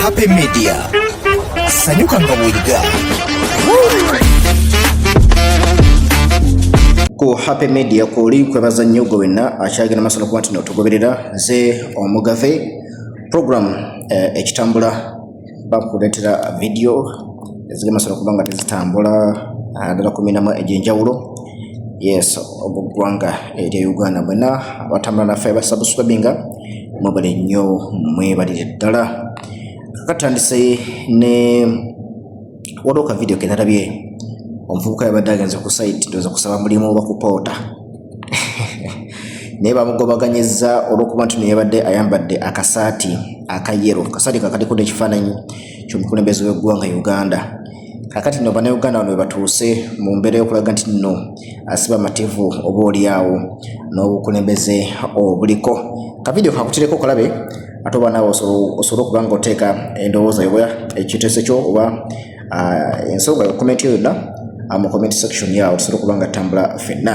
Happy Media. Sanyuka nga bw'oyiga. ku happy media kwoli kwebaza nnyo gwe wenna akyagenda maaso nokuba nti notugoberera nze omugave program eh, ekitambula bakuleetera vidiyo ezigenda maaso nokuba nga tezitambula ah, ddala kuminamu egy'enjawulo yes obugwanga erya uganda mwena abatambula naffe abasabuswabinga mwebale nnyo mwebalire ddala kakatandise ne waliwo ka vidiyo kenalabye omuvubuka yabadde agenze ku saiti doza kusaba mulimu oba kupoota naye bamugobaganyizza olwokuba nti neyabadde ayambadde akasaati akayero kasaati kakaliko nekifaananyi ky'omukulembeze w'eggwanga Uganda kakati no bannayuganda bano webatuuse mu mbeera y'okulaga nti nno asiba amativu oba olyawo n'obukulembeze obuliko kavidiyo kakutireko kalabe ate oba naawe osobola okuba nga oteeka endowooza yoba ekiteeso kyo oba ah, ensonga yo komenti yo yonna ah, mu comment section yaawo tusobola okuba nga ttambula fenna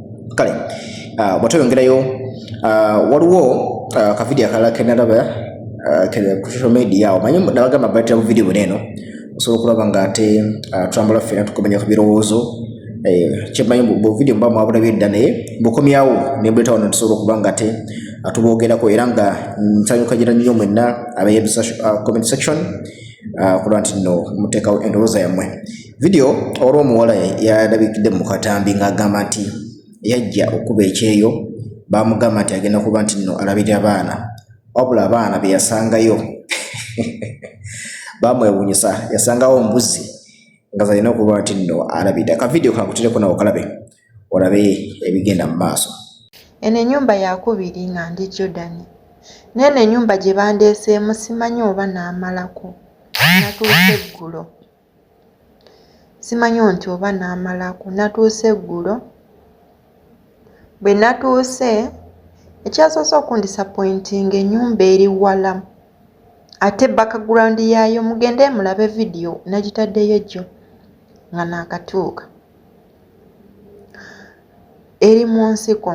kale ah, bwate oyongerayo ah, waliwo ah, kavidiyo akalala kenalaba ku social media omanyi nabagamba batira mu vidiyo buneeno osobola okulaba nga ate tulambula ffena tukomanya ku birowoozo eh, kyemanyi buvidiyo muba mwabulabye dda naye bukomyawo nembuleeta wano tusobola okuba nga ate atuboogerako era nga nsanyuka gira nnyo mwenna abaye comment section kulwa nti no muteekawo endowooza yammwe vidiyo olw'omuwala yalabikidde mu katambi ng'agamba nti yajja okukuba ekyeyo baamugamba nti agenda kuba nti nno alabirira baana wabula abaana be yasangayo baamwewunyisa yasangawo mbuzi nga zalina okuba nti nno alabirira ka vidiyo kakutireko nawe okalabe olabe ebigenda mu maaso eno enyumba yakubiri nga ndi jordan neeno enyumba gye bandeeseemu simanyi oba naamalako natuuse eggulo simanyo nti oba n'amalako natuuse eggulo bwe natuuse ekyasoose okundisapointing enyumba eri wala ate background yaayo mugende mulabe vidiyo nagitaddeyo jjo nga naakatuuka eri mu nsiko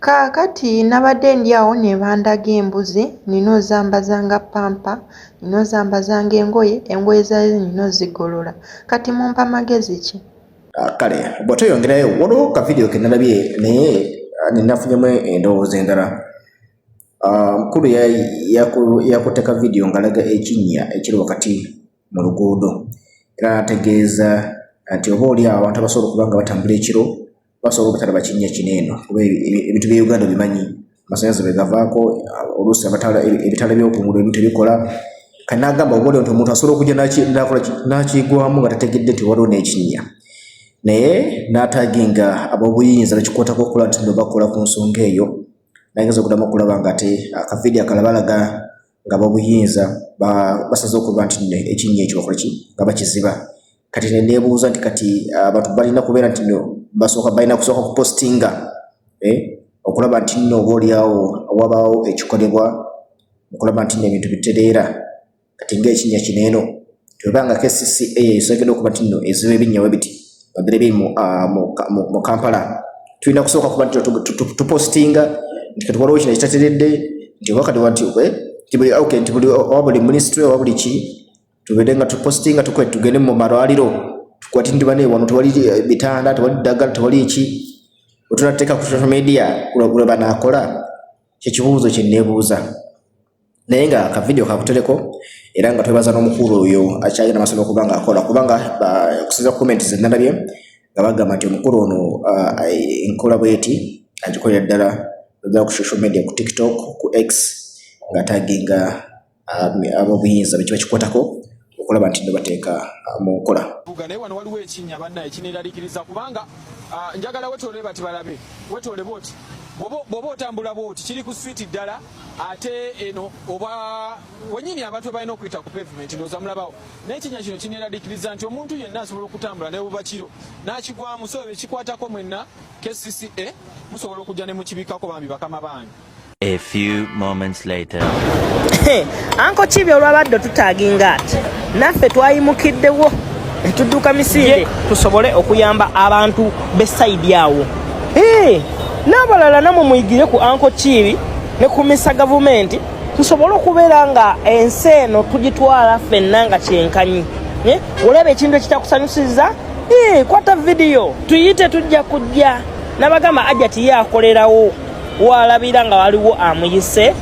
Kaakati nabadde ndi awo ne bandaga embuzi, nnina ozambaza nga ppampa, nnina ozambaza ng'engoye, engoye zaayo nnina ozigolola. Kati mumpa magezi ki? Ah, kale bwe tweyongerayo waliwo ka vidiyo ke nalabye naye ah, nenafunyemu endowooza endala. Ah, mukulu yakutte ka vidiyo ng'alaga ekinnya ekiri wakati mu luguudo era n'ategeeza nti oba oli awo abantu abasobola okuba nga batambula ekiro basobola obutalaba kinnya kino eno kuba ebintu bya uganda bimanyi amasanyalaze bwegavaako oluusi abatala ebitala byokungulu ebintu ebikola kanagamba obole nti omuntu asobola okujja nakigwamu nga tategedde nti waliwo n'ekinnya naye nataginga abobuyinza nakikwatako okukola nti no bakola ku nsonga eyo nageza okudamu okulaba nga ate akavidiyo akalabalaga nga babuyinza basaze okuba nti no ekinnya ekyo bakola ki nga bakiziba kati nenebuuza nti kati ah, abantu balina kubeera nti no basooka balina kusooka kupostinga eh, okulaba nti no oba olyawo wabaawo ekikolebwa okulaba nti no ebintu bitereera kati ngaekinnya kino eno webanga kcca esogedde okuba nti no eziba ebinyawo ebiti bagira ebiri mu ah, kampala tulina kusooka kuba nti tupostinga nti kati waliwo kino ekitateredde nti oba kati wanti nti buli oba buli minisitule oba buli ki tubeere nga tupostinga tukwe tugende mu malwaliro tukwati nti bane wano tewali eh, bitanda tewali ddagala tewali ki otunateeka ku social media kulwe banakola kyekibuuzo kyenebuuza naye nga ka video kakutereko era nga twebaza n'omukulu oyo akyalina amasomo okuba nga akola kubanga okusinza ku comment ze nalabye nga bagamba nti omukulu ono enkola bweti agikolera ddala oja ku social media ku tiktok ku x nga taginga ab'obuyinza bekiba kikwatako okulaba nti nebateeka uh, mu nkola buga naye wano waliwo ekinnya banna ekineeralikiriza kubanga uh, njagala wetoole bati balabe wetoole bwoti bwoba otambula bwoti kiri ku switi ddala ate eno oba wenyini abantu balina okuyita ku pavement ndooza mulabawo naye ekinnya kino kineeralikiriza nti omuntu yenna asobola okutambula naye buba kiro n'akigwamu so ekikwatako mwenna kcca musobola okujja ne mukibikako bambi bakama bange A few moments later. Hey, anko kibi olwabadde otutaginga ati naffe twayimukiddewo ne tudduka misinde tusobole okuyamba abantu be sayidi awo hey, n'abalala namwe muyigire ku anko kibi ne kumisa gavumenti tusobole okubeera nga ensi eno tugitwala ffenna nga kyenkanyi eh, olaba ekintu ekitakusanyusiza eh, kwata vidiyo tuyite tujja kujja nabagamba ajati ye akolerawo walabira nga waliwo amuyise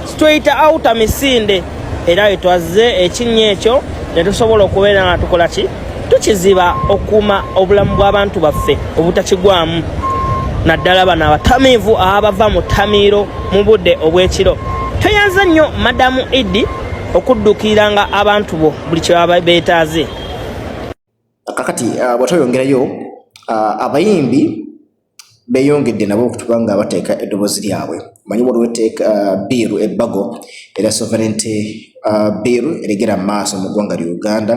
situyita awuta misinde era wetwazze ekinnya ekyo ne tusobola okubeera nga tukola ki tukiziba okukuuma obulamu bw'abantu baffe obutakigwamu naddala bano abatamiivu abava mu ttamiiro mu budde obw'ekiro tweyanza nnyo madamu idi okuddukiiranga abantu bo buli kye baba beetaaze kakati uh, bwatweyongerayo uh, abayimbi beyongedde nabo okutuba nga bateeka eddoboozi lyabwe manyi waliwo etteeka uh, biiru ebbago era sovereignty uh, biiru eregera mu maaso mu ggwanga lya uganda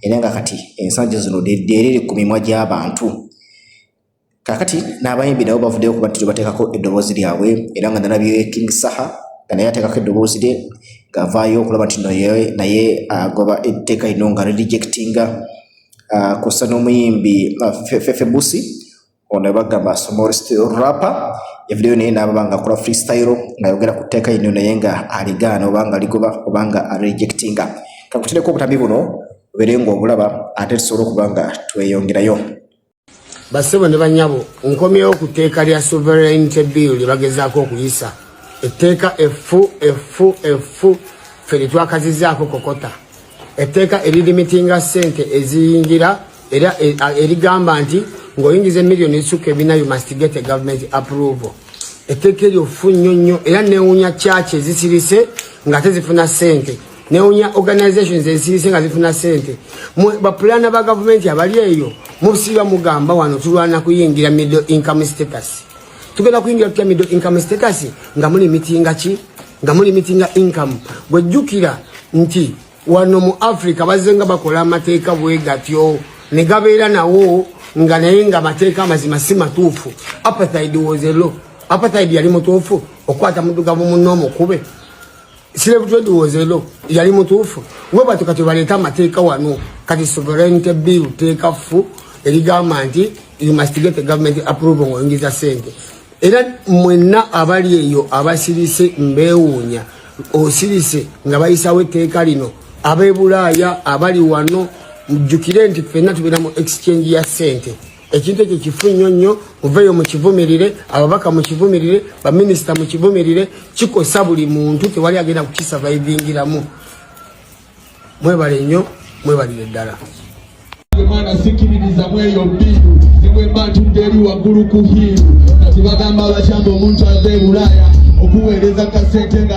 era nga kati ensangi zino lyeriri ku mimwa gy'abantu kakati n'abayimbi nabo bavuddeyo okuba nti bateekako eddoboozi lyabwe era nga nalabye king saha nga naye ateekako eddoboozi lye ng'avaayo okulaba nti naye agoba uh, etteeka lino nga rejectinga kussa n'omuyimbi fefebusi ono bagamba small steel rapper evideyo naye naababa nga akola freestyle ngayogera ku tteeka yino naye nga aligaana obanga ligoba obanga arejectinga kakutireko obutambi buno obere nga obulaba ate tusobola okuba nga tweyongerayo basebo ne banyabo nkomyewo ku tteeka lya sovereignty bill lye bagezaako okuyisa etteeka effu effu effu ffe litwakazizaako kokota etteeka eririmitinga ssente eziyingira era e, erigamba nti ng'oyingiza emiliyoni ezisukka ebina you must get a government approval etteeka eryo fu nnyo nnyo era newunya kyaki ezisirise nga tezifuna ssente newunya organizations ezisirise nga zifuna ssente bapulaana ba gavumenti abali eyo musiba mugamba wano tulwana kuyingira middle income status tugenda kuyingira tutya middle income status nga muli mitinga ki nga muli mitinga income gwejjukira nti wano mu africa bazze nga bakola amateeka bwe gatyo ne gabeera nawo nga naye nga amateeka amazima si matuufu apathaid was a law apathaid yali mutuufu okukwata mudugavu munno omukube Slave trade was a law. Yali mutuufu. Weba batu kati baleeta amateeka wano. Kati sovereignty bill teeka fu erigamba nti you must get a government approval ng'oyingiza sente. Era mwenna abali eyo abasirise mbeewuunya. Osirise nga bayisawo etteeka lino. Ab'e Bulaaya abali wano mujjukire nti ffenna tubeera mu exchange ya sente. ekintu ekyo kifu nnyo nnyo muveeyo mukivumirire ababaka mukivumirire baminisita mukivumirire kikosa buli muntu tewali agenda kukisavaivingiramu mwebale nnyo mwebalire ddala mwana sikiririza mweyo mbiru newemba ntudde eri waggulu ku hiiru kati bagamba abakyamba omuntu ava e bulaaya okuweereza kasente nga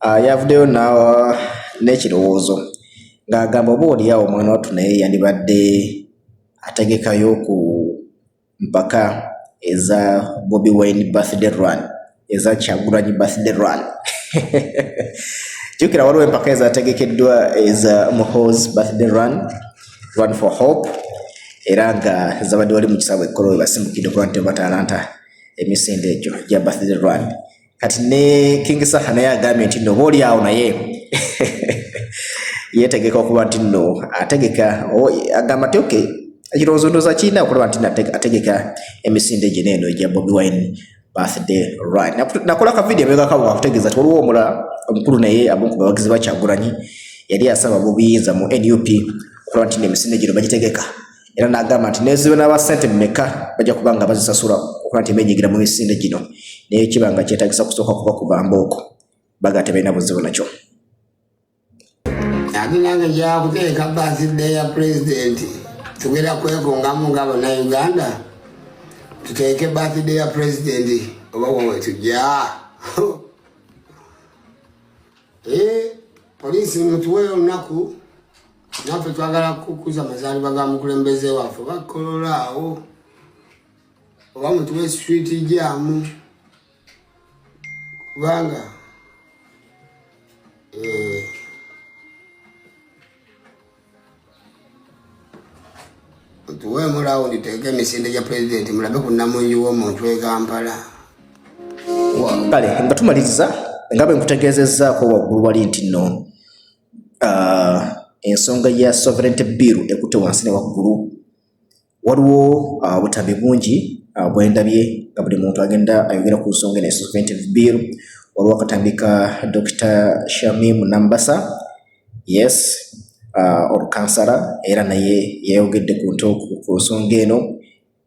Ah, yavuddeyo n'ekirowoozo ng'agamba oba oliawo omwana wattu naye yandibadde ategekayo ku mpaka eza bobi wine birthday run eza kyagulanyi birthday run jukira waliwo empaka ezategekeddwa eza mohos birthday run run for hope era nga zabadde wali mu kisaawe ekkolo webasimukidde okuba nti batalanta emisinde egyo gya birthday run kati ne King Saha naye agambye nti no boli awo naye yetegeka okuba nti no ategeka agamba nti okay ekirowoozo ndooza kirina okulaba nti ategeka emisinde gye neeno egya Bobi Wine birthday right nakola ka video mega kawa kutegeza toliwo omula omukulu naye abunku bawagizi bakyagulanyi yali asaba bubiyinza mu NUP okulaba nti emisinde gino bagitegeka era n'agamba nti neziba n'aba ssente mumeka bajja kuba nga bazisasula okuba nti benyigira mu misinde gino naye kiba nga kyetagisa kusooka kuba kuba mbooko baga tebalina buzibu nakyo ate nange kyakuteeka basidde ya pulezidenti tugenda kwekungamu nga banauganda tuteeke basidde ya pulezidenti oba wewetujja eh, polisi mutuwe olunaku naffe twagala kukuza amazaalibwa ga mukulembeze waffe oba kololaawo oba mutuwe street jamu kubanga eh, tuwe mulawo nditeeka emisinde gya pulezidenti mulabe ku namungi w'omuntu e kampala kale nga tumaliriza nga bwe nkutegeezezzaako waggulu wali nti nno uh, ensonga ya sovereignty bill ekutte wansi ne waggulu waliwo ah, obutambi uh, bungi uh, bwendabye nga buli muntu agenda ayogera ku nsonga ene sovereignty bill waliwo akatambi ka dr shamim nambasa yes uh, olukansala era naye yayogedde ku nto ku nsonga eno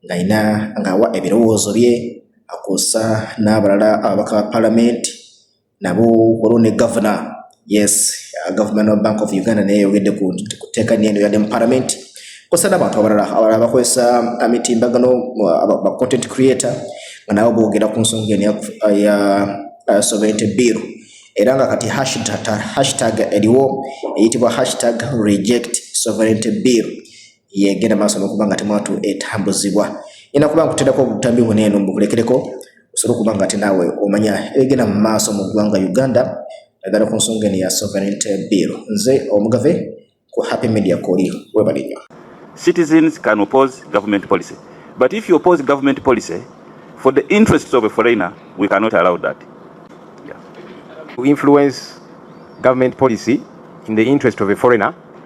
ng'alina ng'awa ebirowoozo bye akosa n'abalala ababaka ba palamenti nabo waliwo ne gavana yes uh, gavumenti wa bank of uganda naye yayogedde ku tteeka nyeeno yadde mu palamenti kosa n'abantu abalala abalala bakozesa uh, mitimbagano uh, ba content creator nga nabo boogera ku nsonga eno ya sovereignty bill era nga kati hashtag eriwo eyitibwa hashtag reject sovereignty bill yegenda maaso nokuba nga temwatu etambuzibwa ina kuba nkuterako obutambi bwona eno mbukulekereko osobola okuba nga ate naawe omanya ebigenda mu maaso mu ggwanga uganda naddala ku nsonga eno ya sovereignty bill nze omugave ku happy media koli webale nnyo citizens can oppose government policy but if you oppose government policy for the interests of a foreigner we cannot allow that yeah. to influence government policy in the interest of a foreigner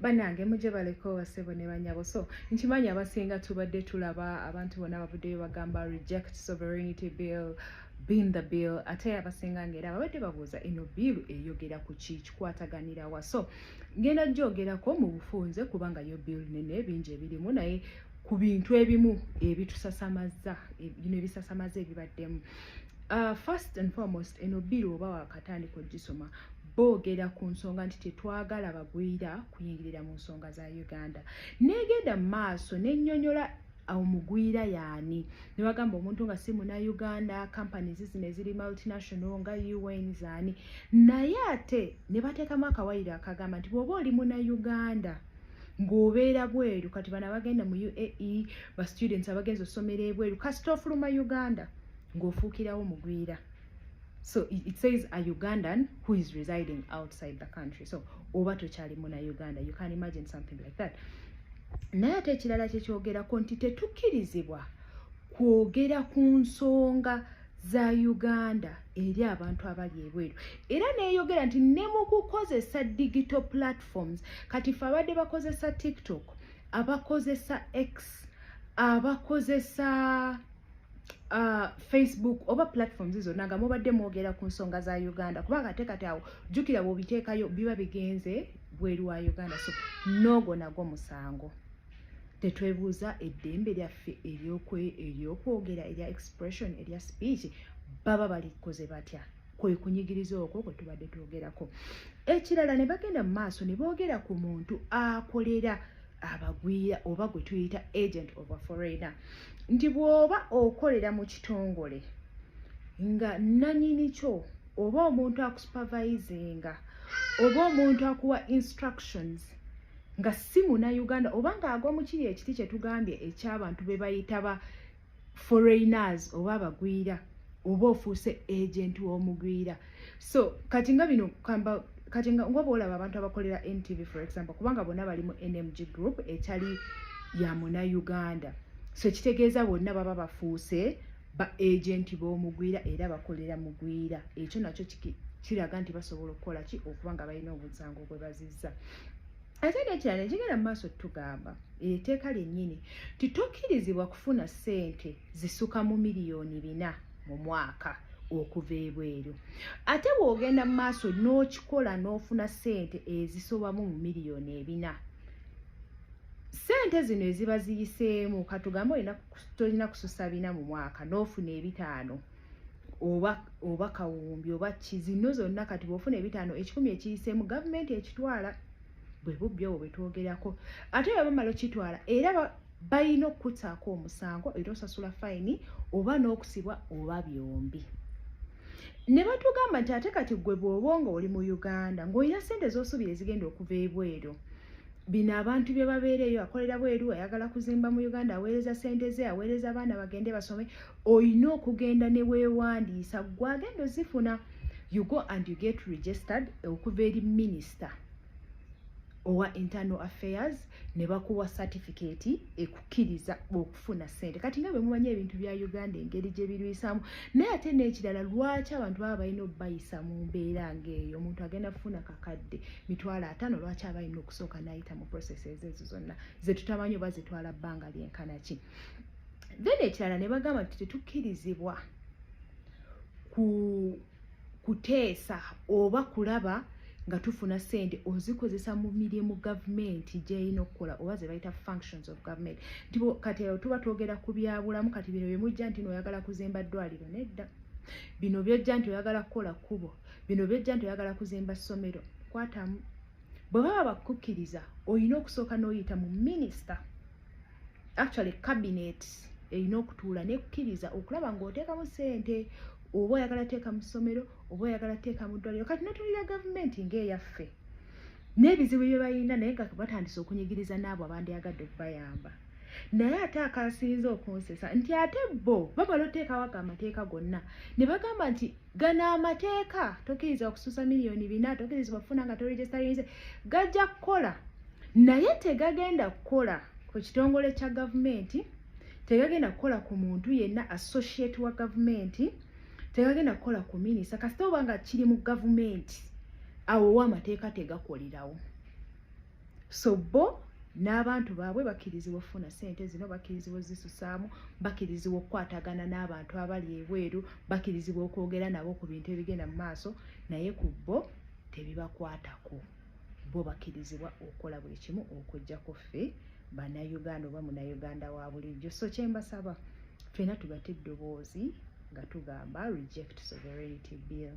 banange muje baleko basebo ne banyabo so nkimanyi abasinga tubadde tulaba abantu bona bavuddeyo bagamba reject sovereignty bill bin the bill ate abasinga ngaera babadde babuuza eno biilu eyogera ku ki kikwataganira wa so ngenda gyogerako mu bufunze kubanga yo bill nene bingi ebirimu naye ku bintu ebimu ebitusasamaza bino ebisasamaza ebibaddemu uh, first and foremost eno bill oba wakatandika ogisoma boogera ku nsonga nti tetwagala bagwira kuyingirira mu nsonga za uganda negenda mu maaso nenyonyola omugwira yaani nebagamba omuntu nga si muna uganda companies zino eziri multinational nga un zaani naye ate nebateekamu akawayiro akagamba nti bwoba oli muna uganda ng'obeera bweru kati bana bagenda mu uae ba students abagenza osomera ebweru kasita ofuluma uganda ng'ofuukirawo mugwira so it says a ugandan who is residing outside the country so oba tokyali muna uganda you can imagine something like that naye ate ekirala kyekyogerako nti tetukkirizibwa kwogera ku nsonga za uganda eri abantu abali ebweru era neyogera nti ne mu kukozesa digital platforms kati fe abadde bakozesa tiktok abakozesa x abakozesa uh, facebook oba platforms zonna nga mubadde mwogera ku nsonga za uganda kubanga ate kati awo jjukira bwobiteekayo biba bigenze bweru wa uganda so noogo nagwo musango tetwebuuza eddembe lyaffe eryokwogera erya expression erya speech baba balikoze batya kwe kunyigiriza okwo kwe tubadde twogerako ekirala ne bagenda mu maaso ne boogera ku muntu akolera abagwira oba gwe tuyita agent of a foreigner nti bw'oba okolera mu kitongole nga nanyini kyo oba omuntu akusupervisinga oba omuntu akuwa instructions nga si munauganda oba ng'agwa mu kiri ekiti kye tugambye eky'abantu be bayita ba foreigners oba abagwira oba ofuuse agent w'omugwira so kati nga bino kamba kati nga ngoba olaba abantu abakolera ntv for example kubanga bonna bali mu nmg group etali ya muna uganda so ekitegeeza bonna baba bafuuse ba agent b'omugwira era bakolera mugwira ekyo nakyo kiraga nti basobola okukola ki okuba nga balina omusango gwe bazizza ate nekirala ekigenda mu maaso tugamba etteeka lyennyini nti tokkirizibwa kufuna ssente zisuka mu miliyoni bina mu mwaka okuva ebweru ate bw'ogenda mu maaso n'okikola n'ofuna ssente ezisobamu mu miliyoni ebina ssente zino eziba ziyiseemu katugambe olina tolina kususa bina mu mwaka n'ofuna ebitaano oba oba kawumbi oba ki zino zonna kati bwofuna ebitaano ekikumi ekiyiseemu gavumenti ekitwala bwe bubbi obwo bwetwogerako ate bwe bamala okitwala era balina okukutaako omusango era osasula fayini oba n'okusibwa oba byombi ne batugamba nti ate kati gwe bw'oba nga oli mu uganda ng'olina ssente z'osuubira ezigenda okuva ebweru bino abantu bye babeereeyo akolera bweru ayagala kuzimba mu uganda aweereza ssente ze aweereza abaana bagende basome olina okugenda ne weewandiisa gwe agenda ozifuna you go and you get registered okuva eri minister owa internal affairs ne bakuwa satifikeeti ekukkiriza okufuna ssente kati nga bwe mumanyi ebintu bya uganda engeri gye birwisaamu naye ate n'ekirala lwaki abantu baba balina okubayisa mu mbeera ng'eyo omuntu agenda kufuna kakadde mitwalo ataano lwaki aba alina okusooka n'ayita mu processes ezo zonna ze tutamanyi oba zitwala bbanga lyenkana ki then ekirala ne bagamba nti tetukkirizibwa ku kuteesa oba kulaba nga tufuna sente ozikozesa mu mirimu gavumenti gyeyina okukola oba ze bayita functions of government nti kati eo tuba twogera ku byabulamu kati bino byemujja nti nooyagala kuzimba ddwaliro nedda bino byojja nti oyagala kukola kkubo bino byojja nti oyagala kuzimba ssomero kwatamu bwe baba bakukkiriza olina okusooka n'oyita mu minisita actually cabinet erina okutuula nekukkiriza okulaba ng'oteekamu sente oba oyagala teeka mu ssomero oba oyagala teeka mu ddwaliro kati notulira gavumenti ng'eyaffe n'ebizibu bye balina naye nga batandise okunyigiriza n'abo abandyagadde okubayamba naye ate akasinze okunsesa nti ate bo bamala oteekawo ago amateeka gonna ne bagamba nti gano amateeka tokiriza okususa miliyoni bina tokirizibwa kufuna nga toregisterinze gajja kukola naye tegagenda kukola ku kitongole kya gavumenti tegagenda kukola ku muntu yenna associate wa gavumenti tegagenda kukola ku minisa kasita oba nga kiri mu gavumenti awo owa amateeka tegakolerawo so bo n'abantu baabwe bakkirizibwa okufuna sente zino bakkirizibwa ozisusaamu bakkirizibwa okukwatagana n'abantu abali ebweru bakkirizibwa okwogera nabo ku bintu ebigenda mu maaso naye ku bo tebibakwatako bo bakkirizibwa okukola buli kimu okujjako ffe bannayuganda oba munayuganda wa bulijjo so kyembasaba ffena tugate eddoboozi nga tugamba reject sovereignty bill